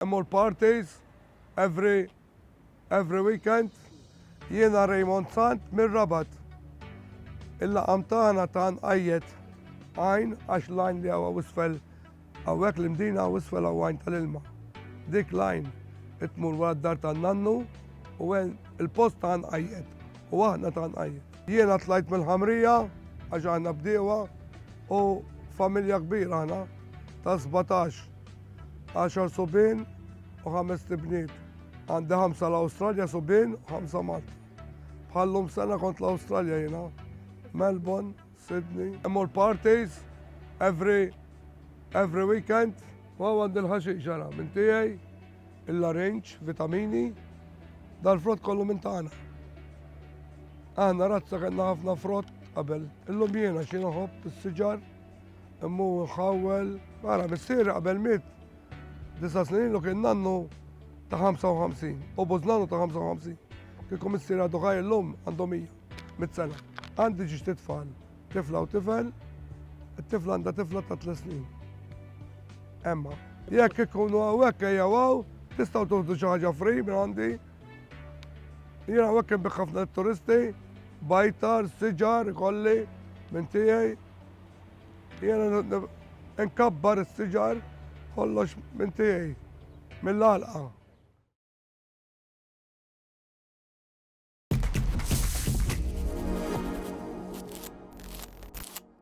Immur parties every every weekend Jiena Raymond Sant mir-Rabat Il-laqam tagħna ta' nqajjet għajn għax l-għajn li hawn isfel hawnhekk l-Imdina hawn isfel hawn għajn tal-ilma. Dik l-għajn qed tmur wara d-dar tan-nannu u hemm il-post ta' nqajjet u aħna ta' nqajjet. Jiena tlajt mill-Ħamrija għax aħna bdiewa u familja kbira aħna ta' 17 10 subien u ħames tibniet. Għandi ħamsa l-Awstralja subien u ħamsa Malta. Bħallum sena kont l-Awstralja jina. Melbourne, Sydney. Immur parties every every weekend. U għandi l-ħaxi ġara minn tijaj, il-larinċ, vitamini, dal-frott kollu minn tagħna. Aħna razza kellna ħafna frott qabel. Illum jiena xi noħob is-siġar Immu ħawwel, ara missier qabel miet disa' snin ilu kien nannu ta' 55 u bużnanu ta' 55. Kieku missier għadu ħaj illum għandu 100 mit-sena. Għandi ġiġ titfal, tifla u tifel, it-tifla għandha tifla ta' 3 snin. Emma, jekk ikunu hawnhekk ejja għaw, tistgħu tuħdu xi ħaġa free minn għandi. Jien hawnhekk inbih ħafna turisti, bajtar, siġar, kolli minn tiegħi. Jiena nkabbar is-siġar kollox minn tiegħi mill-għalqa.